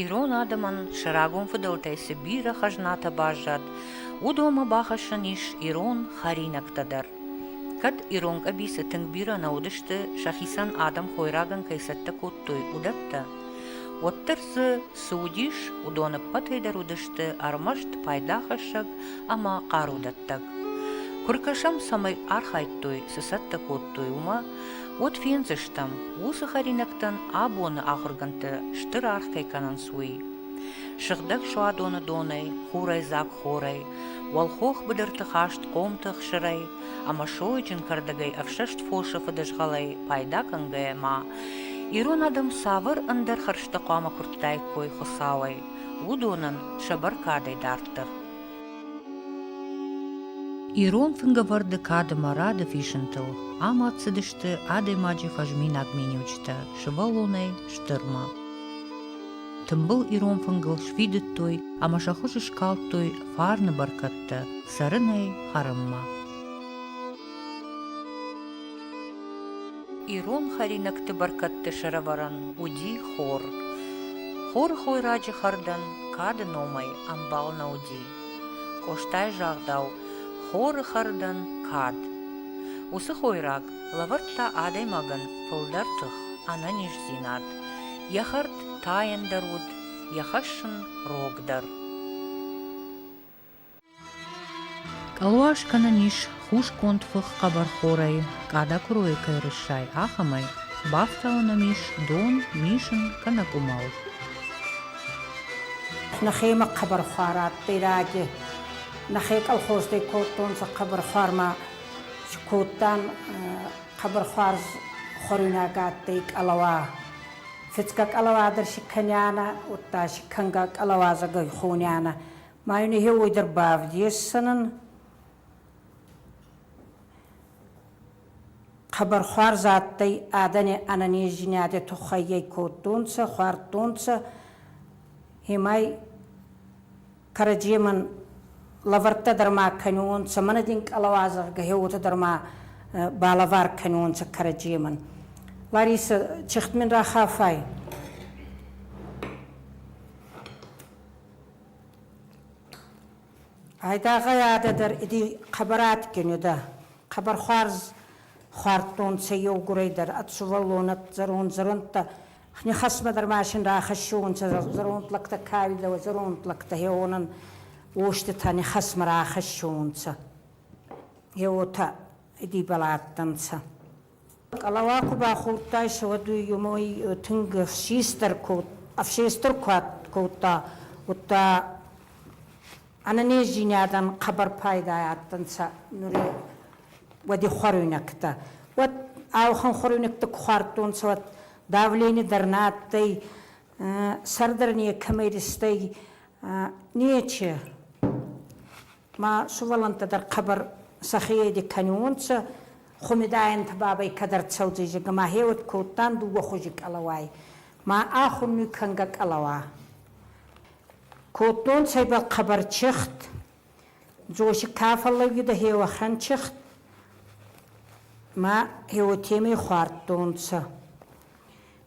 Ирон адӕмӕн сӕ рагон фыдӕлтӕй цы бирӕ хӕзнатӕ баззад, уыдонмӕ бахӕссӕн ис ирон хӕринӕгтӕ дӕр. Кӕд ирон къӕбицы тынг бирӕ нӕ уыдысты, сӕхицӕн адӕм хойрагӕн кӕй цӕттӕ кодтой уыдӕттӕ, уӕддӕр дзы цы уыдис, уыдон ӕппӕтӕй дӕр уыдысты ӕрмӕст пайдахӕссӕг ӕмӕ хъарудӕттӕг. Куы ркӕсӕм, цӕмӕй архайдтой, цы цӕттӕ кодтой, уымӕ, Уӕд фендзыстӕм, уыцы хӕринӕгтӕн абоны ахуыргӕндтӕ стыр аргъ кӕй кӕнынц, уый. Сыгъдӕг суадоны донӕй, хурӕйдзаг-хорӕй, уӕлхох быдырты хаст хъомты хсырӕй ӕмӕ сойджын кӕрдӕгӕй ӕфсӕст фосы фыдызгъӕлӕй пайда кӕнгӕйӕ ма ирон адӕм цавӕр ӕндӕр хӕрзтӕ хъуамӕ куырдтаиккой Хуыцауӕй, уыдонӕн сӕ бӕркадӕй дарддӕр. Ирон фынгӕвӕрды кадӕмӕ рады фисынтыл амад цыдысты адӕймаджы фӕзминаг миниуджытӕ сывӕллонӕй стырмӕ. Тымбыл ирон фынгыл сфидыдтой ӕмӕ сӕ хуыз скалдтой фарны бӕркӕдтӕ цӕрынӕй хӕрынмӕ. Ирон хӕринӕгты бӕркӕдты сӕрӕвӕрӕн уыди хор. Хоры хойраджы хӕрдӕн кады номӕй ӕмбал нӕ уыди. Къостайы загъдау, хоры хӕрдӕн кад. Уыцы хойраг лӕвӕрдта адӕймагӕн фылдӕр тых, ӕнӕниздзинад. Йӕ хӕрд тайӕндӕр уыд, йӕ хӕссын рогдӕр. Къӕлуа скӕнӕн ис хусгонд фых хъӕбӕрхорӕй, къада куыройӕ кӕй рыссай, ахӕмӕй. Бафтауӕн ӕм ис дон, мисын кӕнӕ къуымӕл. Нӕхемӕ хъӕбӕрхуар адтӕй раги. Нӕхе колхоздӕй кодтонцӕ хъӕбӕрхуармӕ. Кодтан хъӕбӕрхуар хуӕруйнаг адтӕй къӕлӕуа. Фицгӕ къӕлӕуа дӕр си кӕнианӕ, удта си кӕнгӕ къӕлӕуазӕгӕй хонянӕ. Ма йын ihe ой дэр бавдессанын хабар хуарзадтӕй адани ӕнӕнездзийнади туххайгей кодтонцӕ, хуардтонцӕ, имай кӕраджемӕн лӕвӕрттӕ дӕр ма кӕнуонцӕ, мӕнӕ дин къӕлӕуазӕггӕ хе уотӕ дӕр ма балӕвар кӕнуонцӕ кӕраджемӕн. Ларисӕ, чихт мин рахафай? Айдагъай адӕдӕр иди хъӕбӕр адгин удӕ. Хъӕбӕр хуарз хуардтонцӕ еугурӕй дӕр ӕд сувӕллонӕт зӕронд зӕрондтӕ. Нихӕсмӕ дӕр машин рахӕссиуонцӕ зӕронд лӕгтӕ каилдӕуӕ, зӕронд лӕгтӕ хеуонӕн уоститӕ нихӕсмӕ рахӕссиуонцӕ. Е уотӕ идибӕл адтӕнцӕ. Къалауа куы бахордтайсӕ, уӕд уый тынг хистӕр код, ӕфсестӕр куад кодта, уӕдта ӕнӕнездзийнадӕн хъӕбӕр пайда адтӕнцӕ нури уӕдихуӕруйнӕгтӕ. Уӕд ауӕхӕн хуӕруйнӕгтӕ ку хуардтонцӕ, уӕд давлени дӕр нӕ адтӕй, сӕр дӕр некӕмӕй ристӕй, нече. Ма сувӕллӕнттӕ дӕр хъӕбӕр сӕхееди кӕниуонцӕ, хумидаенти бабӕй кӕд ӕрцӕудзӕй, ма хеуӕд кодтан дууӕ хузи къӕлӕуай, ма ӕ хуннуй кӕнгӕ къӕлӕуа. Кодтонцӕ ибӕл хъӕбӕр чехт, Дзоси ка фӕллӕуидӕ хеуӕхӕн чехт, ма хеуотемӕй хуардтонцӕ.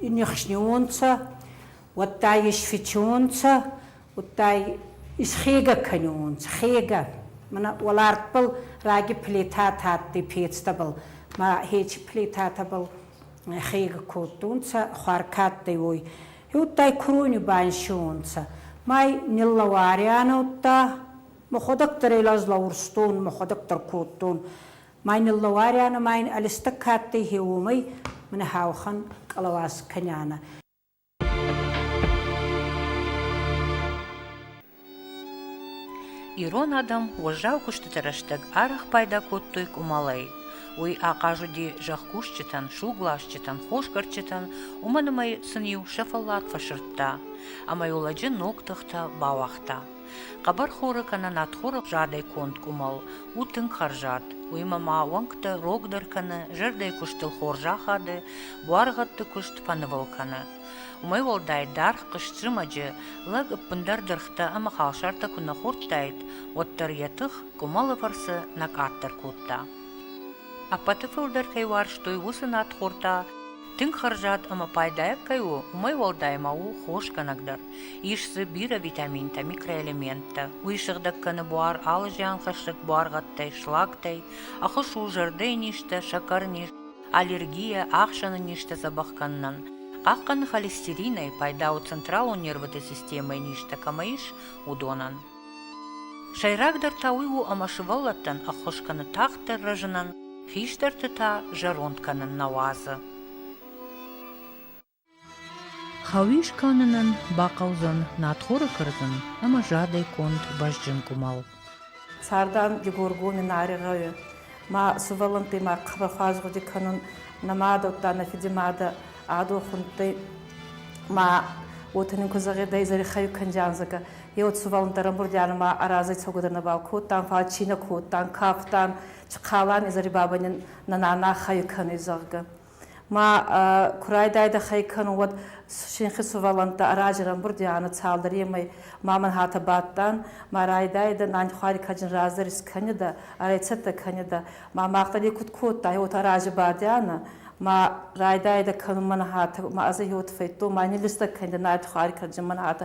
нихснеуонцӕ, уӕдта исфичунцӕ, удта исхегӕ кӕниуонцӕ, хегӕ. Мӕнӕ уӕлартбӕл раги плитатӕ адтӕй пецтӕбӕл, ма хечи плитатӕбӕл хегӕ кодтонцӕ, хуӕркӕдтӕй уой. Удта курони бансиуонцӕ. Май ниллӕварианӕ удта, мӕхуӕдӕг дӕр ӕй лӕз лӕурстон, мӕхуӕдӕг дӕр кодтон. Мӕ ниллӕуарӕны ма ин ӕлистӕг кадтӕй е уомӕй, мин хаухӕн къалауаз кӕнӕнӕ. Ирон адӕм уӕззау куыстыты рӕстӕг арӕх пайда кодтой къуымӕлӕй. Уый ахъаз уыди зӕхкусджытӕн, сугласджытӕн, хосгӕрдджытӕн, уымӕн ӕмӕ сын-иу сӕ фӕллад фӕсырдта, ӕмӕ йыл лӕджы ног тыхтӕ бауагъта. Хъӕбӕрхоры кӕнӕ надхоравзадӕй конд къуымӕл у тынг хӕрзад. Уыимӕ ма уӕнгтӕ рогдӕр кӕны, зӕрдӕйы куыстыл хорз ахады, буаргъӕдты куыст фӕнывыл кӕны. Уымӕй уӕлдай даргъ хъызт зымӕджы лӕг ӕппындӕр дыргътӕ ӕмӕ халсартӕ куы нӕ хордтаид, уӕддӕр йӕ тых къуымӕлы фӕрцы нӕ къаддӕр кодта. Ӕппӕты фылдӕр кӕй уарзтой уыцы надхортӕ, Тынг хӕрзад ӕмӕ пайдайаг кӕй у, уымӕй уӕлдай ма у хосгӕнӕг дӕр. Ис дзы бирӕ витаминтӕ, микроэлементтӕ. Уый сыгъдӕг кӕны буар алы зианхӕссӕг буаргъӕдтӕй, слактӕй, ахуыс у зӕрдӕйы низтӕ, сӕкӕры низ, аллергийӕ, ахсӕны низтӕ дзӕбӕх кӕнынӕн. Хъахъхъӕны холестеринӕй, пайда у централон нервоты системӕйы низтӕ кӕмӕ ис, уыдонӕн. Сӕйрагдӕр та уый у, ӕмӕ сывӕллӕттӕн ӕххуыс кӕны тагъддӕр рӕзынӕн, хистӕрты та зӕронд кӕнын нӕ уадзы. Хауис кӕнынӕн бахъӕудзӕн надхоры кӕрдзын ӕмӕ задӕй конд бӕзджын къуымӕл. Цардан Дигоргони Нари гъӕуи ма сувӕллӕнтти ма къахбӕ хуӕзгъуди кӕнун нӕмӕ дӕттта нӕ фидимадӕ ӕ дохундтӕй ма уотӕ нин ку зӕгъидӕ, Зарихъӕуи кандианзагӕ Еуцубӕлон дӕр Бурдиан ма аразӕй цогудӕр нӕбал кодтан, фал чи нӕ кодтан, кафтан, хъалан изӕри бабӕни нана хай кӕнуй, зӕгъгӕ. Ма ку райдайдӕ хай кӕнун, уӕд синхи сувӕллӕнттӕ аразерӕн Бурдианы цалдӕр емӕй ма мӕн хатӕ бадтан, ма райдайидӕ нани хуари каджин раздӕр искӕнидӕ, ӕрӕйцӕттӕ кӕнидӕ. Ма махта некуд кодтай, уотӕ рази бадианӕ, ма райдайидӕ кӕнун мӕн хатӕ, ма ӕз еуотӕ фӕйдтон, ма ниллистӕ кӕнидӕ нарди хуари каджин мӕн хатӕ,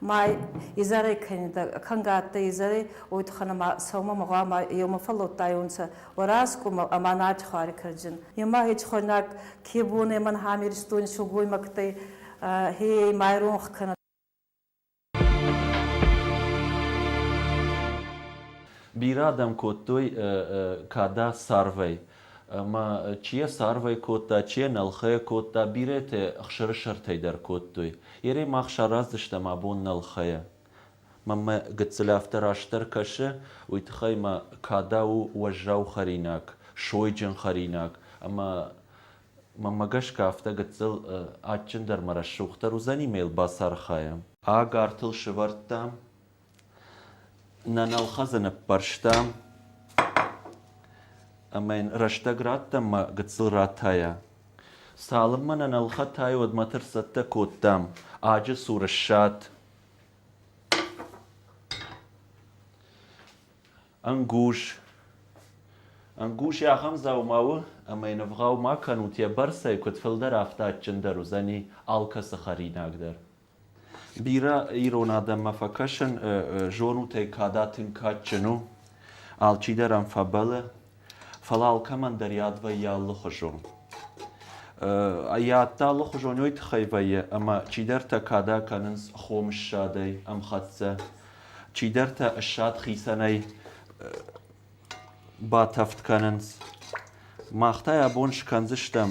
Май изарай кӕнгӕ адтӕй изарай, уой туххӕн ӕма сӕумӕ мӕгъуама еумӕ фӕллодтайонцӕ Уӕрӕскъумӕ ӕма Надьхуари кӕрдзин. Ема хецхойнаг ке бонӕй мӕн хӕмиристон сылгоймӕгтӕй хейӕй майронх кӕнӕ. Бирӕ адӕм кодтой кадӕ царвӕй, ӕма чи йӕ царвӕй кодта, чи йӕ нӕлхӕйӕ кодта, бирӕтӕ ӕхсӕрысӕртӕй дӕр кодтой. Ерӕй мах сараздзыстӕм абон нӕлхӕйӕ. Мамӕ гыццыл афтӕ растдӕр кӕсы, уый тыххӕй мӕ када у уӕззау хӕринаг, сойджын хӕринаг, ӕмӕ мӕмӕ гӕсгӕ афтӕ гыццыл адджындӕр мӕ рӕсугъддӕр уыдзӕни мӕ йыл бацархайӕм. Ӕгӕртыл сывӕрдтам Нӕ нӕлхӕдзы ныппӕрстам ӕмӕ йын рӕстӕг радтам мӕ гыццыл ратайа. Цалынмӕ нӕ нӕлхӕтай, уӕдмӕ тӕрсӕттӕ кодтам. Аджы цур ссад. Ӕнгуз. Ӕнгуз йӕ ахӕм дзаума у, ӕмӕ йын ӕвгъау ма кӕнут йӕ бӕрцӕй, куыд фылдӕр, афтӕ адджындӕр уыдзӕни алкӕцы хӕринаг дӕр. Бирӕ ирон адӕммӕ фӕкӕсын зонутӕй када тынг кадджын у, алчидӕр ӕм фӕбӕлы, фӕлӕ алкӕмӕн дӕр йад вӕййы алыхуызон. Йад та алыхуызон уый тыххӕй вӕййы, ӕмӕ чидӕртӕ када кӕнынц хомыссадӕй ӕмхӕццӕ, чидӕртӕ ссад хицӕнӕй батӕвд кӕнынц. Мах та йӕ бон скӕндзыстӕм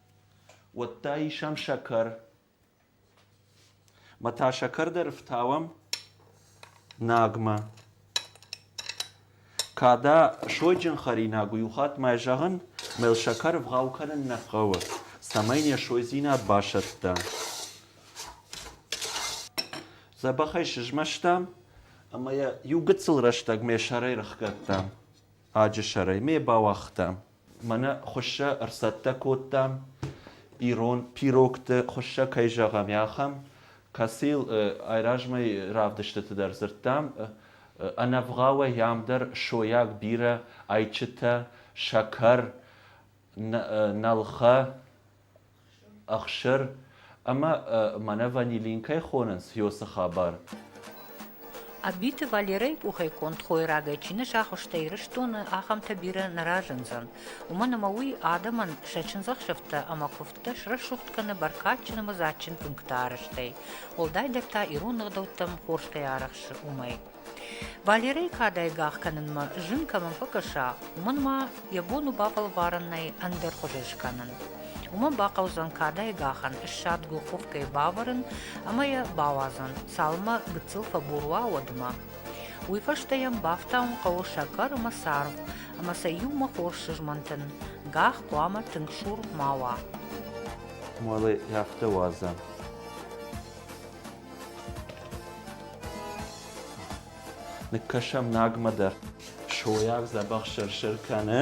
Уӕдта исӕм сӕкӕр. Ма та сӕкӕр дӕр фтауӕм Нагмӕ. Када сойджын хӕринаг у, иу хатт мӕ зӕгъын, мӕ йыл сӕкӕр ӕвгъау кӕнын нӕ хъӕуы, цӕмӕй йын йӕ сойдзинад басӕтта. Дзӕбӕхӕй сызмӕстам ӕмӕ йӕ иу гыццыл рӕстӕг ме сӕрӕй рыхгӕдтам. аджы сӕрӕй ме бауагъта. Мӕнӕ хуыссӕ ӕрцӕттӕ кодтам, ирон пирогты хуыссӕ кӕй зӕгъӕм, ахӕм, кӕцыйыл айразмӕ равдыстыты дӕр дзырдтам. Ӕнӕвгъауӕй ам дӕр сойаг бирӕ ӕйчытӕ, сӕкӕр, нӕлхӕ, ӕхсӕр ӕмӕ мӕнӕ ванилин кӕй хонынц ёсы хабар Ӕббиты Валерӕйы къухӕй конд хойрагӕй чи нӕ сахуыста Ирыстоны, ахӕмтӕ бирӕ нӕ разындзӕн. Уымӕн ӕмӕ уый адӕмӕн сӕ чындзӕхсӕвтӕ ӕмӕ куывдтӕ срӕсугъд кӕны бӕркадджын ӕмӕ дзаджджын пункты арӕзтӕй, уӕлдайдӕр та ирон ӕгъдӕуттӕм хорз кӕй арӕхсы, уымӕй. Валерӕйы кадӕй гӕх кӕнынмӕ зын кӕмӕн фӕкӕса, уымӕн ма йӕ бон у бафӕлварӕнӕй ӕндӕр хъуыды скӕнын. Уымӕн бахъӕудзӕн кадӕй гӕхӕн ссадгу хух кӕй бавӕрын ӕмӕ йӕ бауадзын, цалынмӕ гыццыл фӕбур уа, уӕдмӕ. Уый фӕстӕ йӕм бафтауын хъӕуы сӕкӕр ӕмӕ царв, ӕмӕ сӕ иумӕ хорз сызмӕнтын. Гӕх хъуамӕ тынг сур ма уа. Уӕле афтӕ уадза. Ныккӕсӕм Нагмӕ дӕр. Сойар дзӕбӕх сӕр-сӕр кӕны.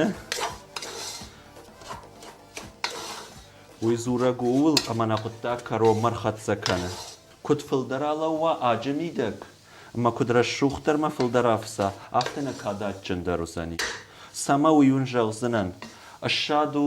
Уый дзурӕг ууыл, ӕмӕ нӕ хъуыддаг кӕронмӕ рхӕццӕ кӕны. Куыд фылдӕр алӕууа аджы мидӕг, ӕмӕ куыд рӕсугъддӕрмӕ фылдӕр афса, афтӕ нӕ кад адджындӕр уыдзӕни. Цӕмӕ уый уын зӕгъдзынӕн? Ссад у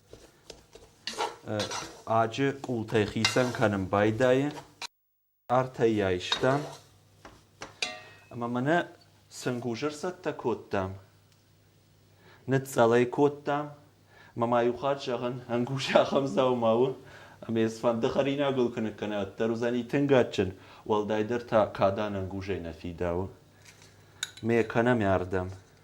аджы къултӕй хицӕн кӕнын байдайы артӕй айстам ӕмӕ мӕнӕ сынгузыр цӕттӕ кодтам ныцъцъӕл ӕй кодтам ӕмӕ ма иу хатт зӕгъын ӕнгуз ахӕм дзаума у ӕмӕ йӕ фӕнды хӕринагыл куы ныккӕнат дӕр уыдзӕни тынг адджын уӕлдайдӕр та кадӕн ӕнгузӕй нӕ фидауы ме кӕнӕм ардӕм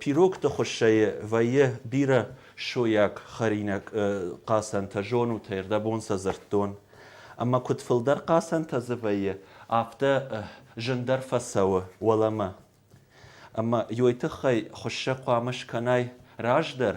Пирогты хуыссӕй вӕййы бирӕ сойаг хӕринаг хъацӕнтӕ, зонут ӕй, рдӕбон сӕ дзырдтон. Ӕмӕ куыд фылдӕр хъацӕнтӕ дзы вӕййы, афтӕ зындӕр фӕцӕуы уӕлӕмӕ. Ӕмӕ йой тыххӕй хуыссӕ хъуамӕ скӕнай раздӕр,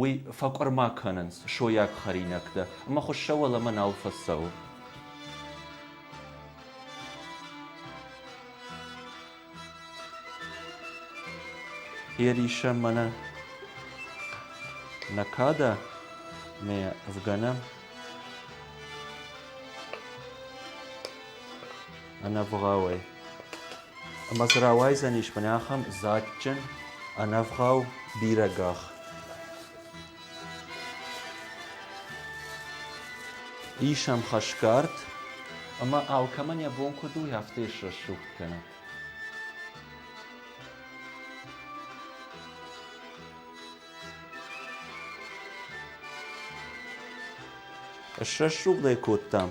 Уый фӕкъуырма кӕнынц сойаг хӕринӕгтӕ ӕмӕ хуыссӕ уӕлӕмӕ нал фӕцӕуы. Ерисӕ мӕнӕ накада мӕ фгӕнӕм. ӕнӕвгъауӕй. Ӕмӕ цы рауайдзӕнис мӕнӕ ахӕм дзаджджын, ӕнӕвгъау бирӕ гах. Ис ӕм хӕсгард, ӕмӕ алкӕмӕн йӕ бон куыд у, афтӕ ссух кӕна. Ссӕссугъд ӕй кодтам.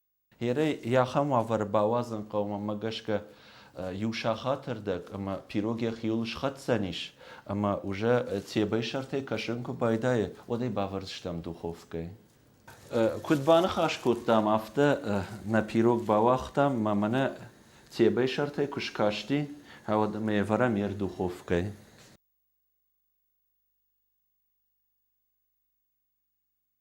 Ерӕй ахӕм уавӕры бауадзын хъӕумӕ гӕсгӕ иу сахаты рдӕг ӕмӕ пирог йӕхиуыл схӕцдзӕнис ӕмӕ уже тебӕйы сӕртӕй кӕсын куы байдайы, уӕд ӕй бавӕрдзыстӕм духовкӕйы. Куыд баныхас кодтам, афтӕ нӕ пирог бауагътам мӕ мӕнӕ тебӕйы сӕртӕй куы скасти, уӕд ӕмӕ ӕвӕрӕм йе рдуховкӕйы.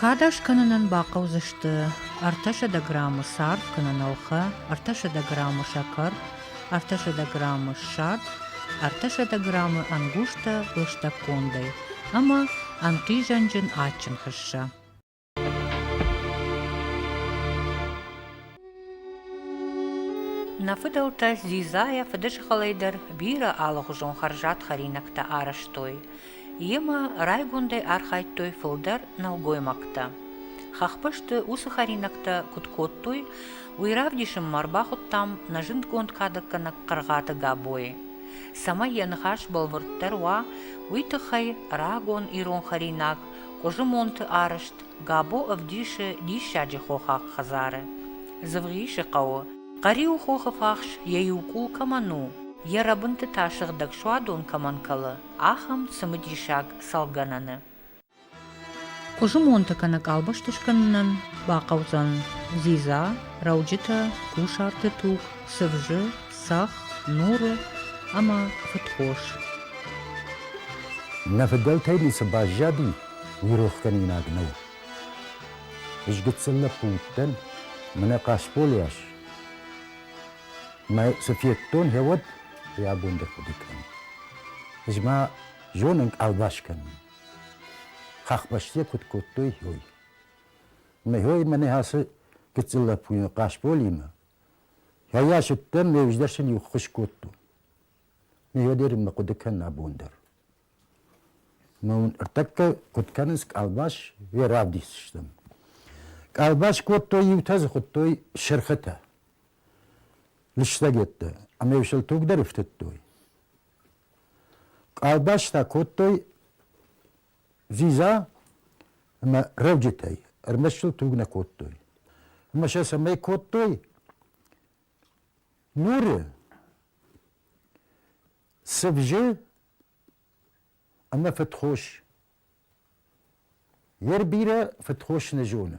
Кадӕг скӕнынӕн бахъӕудзысты ӕртӕсӕдӕ граммы цард кӕнӕ нӕлхӕ, ӕртӕсӕдӕ граммы сӕкӕр, ӕртӕсӕдӕ граммы ссад, ӕртӕсӕдӕ граммы ӕнгузтӕ лыстӕг кондӕй ӕмӕ ӕнхъизӕнджын адджын хыссӕ. Нӕ фыдӕлтӕ дзидзайӕ фыдысхалӕй дӕр бирӕ алыгъуызон хӕрзад хӕринӕгтӕ арӕзтой. Йемӕ райгондӕй архайдтой фылдӕр нӕлгоймӕгтӕ. Хӕхбӕсты уыцы хӕринӕгтӕ куыд кодтой, уый равдисынмӕ ӕрбахуыдтам нӕ зындгонд кадӕггӕнӕг Хъыргъаты Габойы. Цӕмӕй йӕ ныхас бӕлвырддӕр уа, уый тыххӕй рагон ирон хӕринаг Къуызымонты арӕзт Габо ӕвдисы диссаджы хохаг хӕдзары. Дзывгъисы хъӕуы, Хъӕриу хохы фахс йӕ иу къул кӕмӕн у, йӕ рӕбынты та сыгъдӕг суадон кӕмӕн кӕлы, ахӕм цымыдисаг цӕлгӕнӕны. Хъуызымонты кӕнӕ къалбӕсты скӕнынӕн бахъӕудзӕн дзидза, рӕуджытӕ, кусарты туг, сывзы, цӕхх, нуры ӕмӕ фыдхос. Нӕ фыдӕлтӕй ницы баззади, уый рохгӕнинаг нӕу. Ызгыдтын нӕ пункттӕн, мӕнӕ Хъасбол йас. Мӕ цы федтон, гъеуӕд ӕй абон дӕр хъуыды кӕнын. Ӕз ма зонын къалбас кӕнын. Хӕхбӕсты куыд кодтой, ой. Мӕ мӕнӕ ацы гыццыл лӕппуйы Хъасболимӕ. Йӕ сыдтӕн, ме ӕвздӕр сын иу ххуыс кодтон. Мӕ дӕр мӕ хъуыды кӕн абон дӕр. Мӕ уын ӕртӕккӕ куыд кӕнынц къалбас, уе равдисдзыстӕм. Къалбас кодтой, иутӕ дзы хуыдтой сырхытӕ. лыстӕгеттӕ ӕмӕ сыл тугдӕр ифтыдтой. Къалбӕстӕ кодтой дзидза ӕмӕ рӕуджытӕй, ӕрмӕст сыл туг нӕ кодтой. Ӕмӕ сӕ цӕмӕй кодтой? Нуры цывзы ӕмӕ фыдхос. Йе рбирӕ фыдхос нӕ зоны.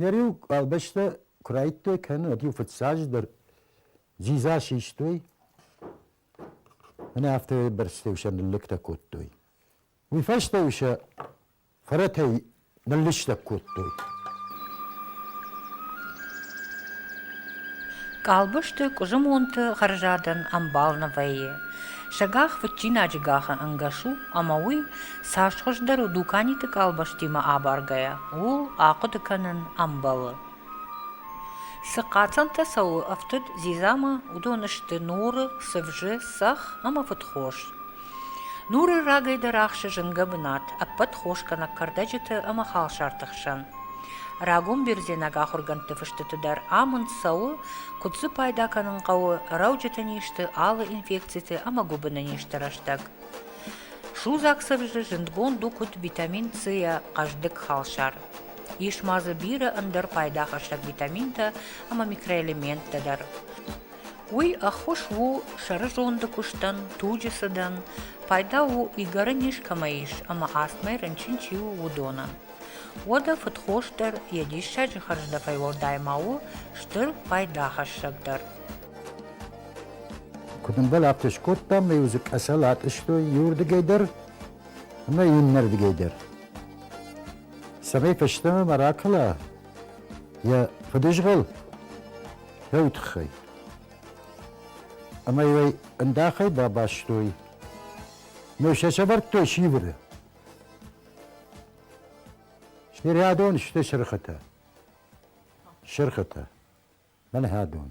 Йӕ риу къабӕзтӕ куы райдтой кӕнын, уӕд-иу фыццаджыдӕр дзидза систой, ӕмӕ афтӕ бӕрцтӕ-иу сӕ ныллӕгтӕ кодтой. Уый фӕстӕ-иу сӕ фӕрӕтӕй ныллыстӕг кодтой. Къабӕзты къуызымонты хӕрзадӕн ӕмбал нӕ вӕййы. Сӕ гӕх фыдчинаджы гӕхы ӕнгӕс у, ӕмӕ уый Цас хуыздӕр у дуканиты къалбӕстимӕ абаргӕйӕ, ууыл ахъуыды кӕнын ӕмбӕлы. Цы хъацӕнтӕ цӕуы ӕфтыд дзидзамӕ, уыдон сты нуры, цывзы, цӕх ӕмӕ фыдхос. Нуры рагӕй дӕр ахсы зынгӕ бынат, ӕппӕт хос кӕнӕ кӕрдӕджыты ӕмӕ халсарты хсӕн. Рагон бердзенаг ахуыргӕндты фыстыты дӕр амынд цӕуы, куыд дзы пайда кӕнын хъӕуы рӕуджыты низты, алы инфекциты ӕмӕ гуыбыны низты рӕстӕг. Судзаг сывзы зындгонд у куыд витамин C-йӕ хъӕздыг халсар. Ис ма дзы бирӕ ӕндӕр пайдахӕссӕг витаминтӕ ӕмӕ микроэлементтӕ дӕр. Уый ӕххуыс у сӕрызонды куыстӕн, туджы цыдӕн, пайда у игӕры низ кӕмӕ ис ӕмӕ астмӕ рынчын чи у, уыдоны. Уӕдӕ фыдхос дӕр йӕ диссаджы хӕрздӕфӕй уӕлдай ма у стыр пайдахӕссӕг дӕр. Куыд ӕмбал афтӕ скодтам, нӕ иу дзы къӕсӕл атъыстой иуырдыгӕй дӕр ӕмӕ иннӕрдыгӕй дӕр. Цӕмӕй фӕстӕмӕ ма ракӕла йӕ фыдызгъӕл, фӕу тыххӕй. Ӕмӕ йӕ ӕндахӕй бабастой. Ме сӕ сӕвӕрдтой сивыры. Се рядон сты сырхытӕ. Сырхытӕ. Мӕн хӕдон.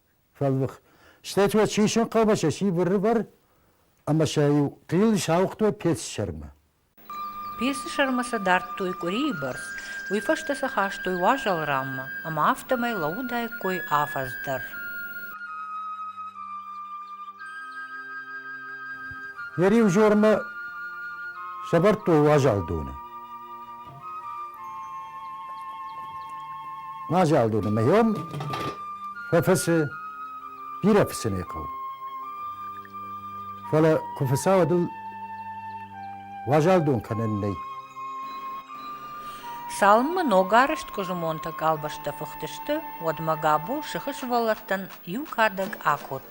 фӕлвых. Стӕй уӕ чи сын хъӕуы, сӕ си быррыбыр ӕмӕ сӕ-иу хъил сауыгътой пецсӕрмы. Пецсӕрмы сӕ дардтой къуырийы бӕрц, уый фӕстӕ сӕ хастой уазал раммӕ, ӕмӕ афтӕмӕй лӕууыдаиккой афӕдз дӕр. Йӕ риу жормӕ сӕвӕрдтой уазал доны. Мазӕл доны мӕ йом фӕфӕсы бирӕ фыссыны хъӕу. Фӕлӕ куы фӕцӕуа дыл уазал дон кӕнӕн нӕй. Салмы ногарызтгуызы монты къалбӕстӕ фыхтысты, уӕдмӕ Габо сыхы сывӕллӕттӕн иу кадӕг акодта.